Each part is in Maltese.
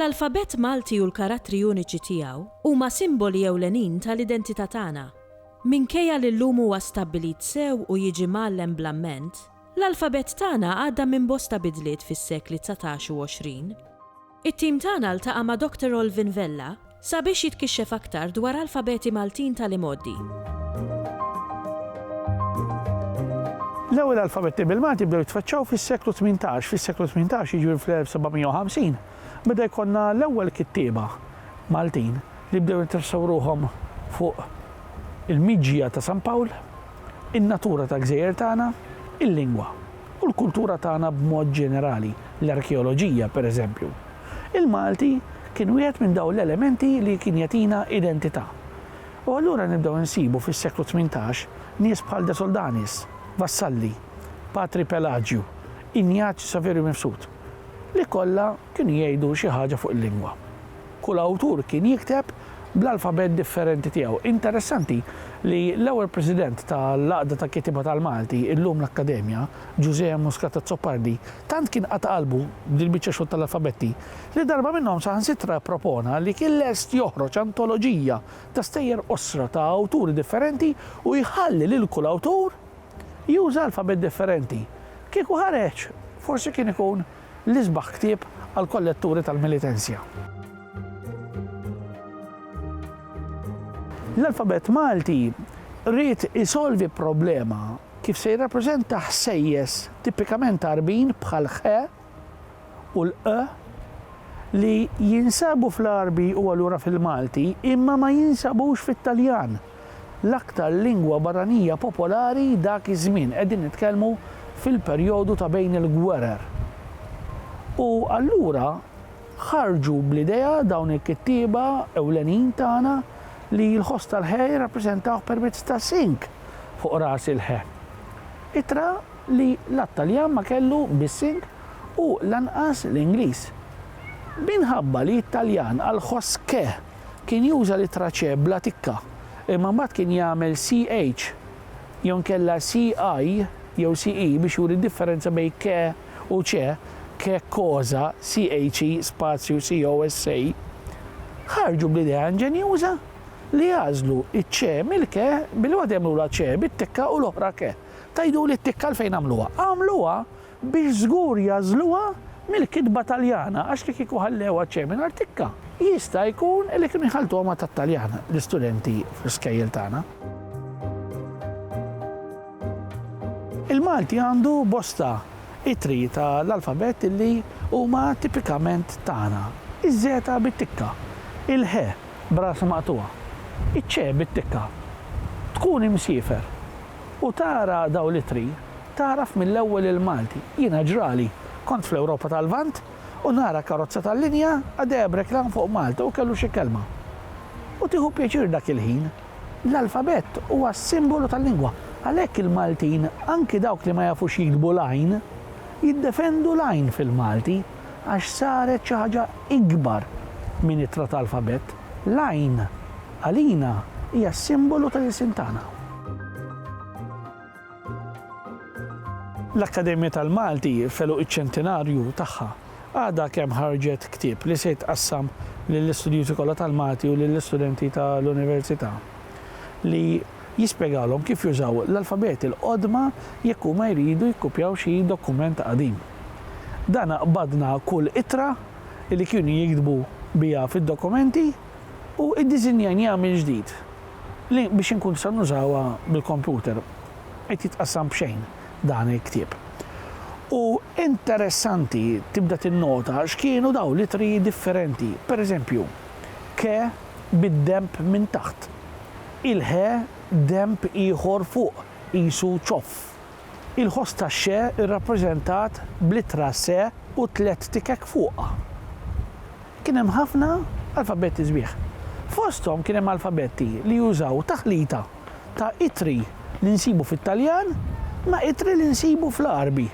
L-alfabett Malti u l-karattri uniċi tiegħu huma simboli ewlenin tal-identità tagħna. Minkejja li llum huwa stabbilit sew u jiġi mgħallem bl-amment, L-alfabett tagħna għadda minn bosta bidliet fis-sekli dsatax u għoxrin. It-tim tagħna ltaqa' ma' Doctor Olvin Vella sabiex jitkixxef aktar dwar alfabeti Maltin tal-imgħoddi. L-ewwel alfabetti bil-Malti bdew jitfaċċaw fis-seklu tmintax. Fis-seklu tmintax, jiġifieri fl-1750, beda jkollna l-ewwel kittieba Maltin li bdew jinteressaw ruħhom fuq il-miġja ta' San Pawl. in-natura tal-gżejjer tagħna, il-lingwa, u l-kultura tagħna b'mod ġenerali, l-arkeoloġija, pereżempju. Il-Malti kien wieħed minn dawn l-elementi li kien jagħtina identità. U allura nibdew insibu fis-seklu tmintax nies bħal De Soldanis, Vassalli, Patri Pelaġju, Injazju Saverju Mifsud, li kollha kienu jgħidu xi ħaġa fuq il-lingwa. Kull awtur kien jikteb bl-alfabet differenti tiegħu. Interessanti li l-ewwel President tal-Għaqda ta' Kittieba tal-Malti, illum l-Akkademja, Ġużè M. Muscat Azzopardi, tant kien qata' qalbu b'dil-biċċa xogħol tal-alfabetti, li darba minnhom saħansitra ppropona li kien lest joħroġ antoloġija ta' stejjer qosra ta' awturi differenti u jħalli lil kull awtur juża alfabet differenti. Kieku ħareġ, forsi kien ikun l-isbaħ ktieb għall-kolletturi tal-Militenzja. L-alfabett Malti ried isolvi problema kif se jirrappreżenta ħsejjes tipikament Għarbin bħal ħ u l-q li jinsabu fl-Għarbi u allura fil-Malti imma ma jinsabux fit-Taljan. l-aktar lingwa barranija popolari dak iż-żmien, qegħdin nitkellmu fil-perjodu ta' bejn il-gwerer. U allura ħarġu bl-idea dawn il-kittieba ewlenin tagħna li l-ħoss tal-ħe jirrappreżentawh permezz ta' sink fuq ras il-ħe. Ittra li la t-Taljan ma kellu bis-sink u lanqas l-Ingliż. Minħabba li t-Taljan għall-ħoss ke Kien juża l-ittra ċe bla tikka, imma mbagħad kien jagħmel CH jew inkella CI jew CE biex juri d-differenza bejn ke u ce, ke cosa, CHE spazju COSA. Ħarġu bl-idea inġenjuża li jagħżlu ċ-ce mill-ke billi waħda jagħmlulha ce bit-tikka u l-oħra ke. Tgħiduli t-tikka għalfejn għamluha? Għamluha biex żgur jagħżluha mill-kitba Taljana għax li kieku ħallewha txejn mingħajr tikka, jista' jkun li kienu jħalltuha ma' tat-Taljan l-istudenti fl-iskejjel tagħna. Il-Malti għandu bosta ittri ta' l-alfabett li huma tipikament tagħna. Iż-żeta bit-tikka, il-ħe b'ras maqtugħa, iċ-ċe bit-tikka. Tkun imsiefer u tara dawn l-ittri Tagħraf mill-ewwel il-Malti. Jiena ġrali, kont fl-Ewropa tal-Lvant u nara karozza tal-linja għaddejja b'reklam fuq Malta u kellu xi kelma. U tieħu pjaċir dak il-ħin. L-alfabett huwa s-simbolu tal-lingwa. Għalhekk il-Maltin, anki dawk li ma jafux jiktbu l-għajn, jiddefendu l-għajn fil-Malti għax saret xi ħaġa ikbar minn ittra ta' alfabett. L-għajn, għalina, hija s-simbolu tal-ilsien tagħna. L-Akkademja tal-Malti f'għeluq iċ-ċentinarju tagħha għadha kemm ħarġet ktieb li se jitqassam lill-istudjużi kollha tal-Malti u lill-istudenti tal-Università li jispjegalhom kif jużaw l-alfabeti l-qodma jekk huma jridu jikkupjaw xi dokument qadim. Dana qbadna kull ittra li kienu jiktbu biha fid-dokumenti. U iddiżinjajnieha mill-ġdid li biex inkun nistgħu nużawha bil-computer. Qed jitqassam b'xejn dan il-ktieb. U interessanti tibda tinnota x'kienu dawn l-ittri differenti. Per eżempju, ke bid-denb minn taħt. Il-he denb ieħor fuq, qisu ċoff. Il-ħoss tax-xe rrappreżentat bl-ittra se u tliet tikek fuqha. Kien hemm ħafna alfabetti sbieħ. Fosthom kien hemm alfabetti li jużaw taħlita ta' ittri li nsibu fit-Taljan ma' ittri li nsibu fl-Għarbi.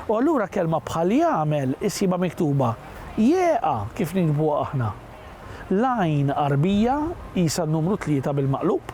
U allura kelma bħal jagħmel issibha miktuba jeqa' kif niktbuha aħna. L-għajn Għarbija qisha n-numru tlieta bil-maqlub.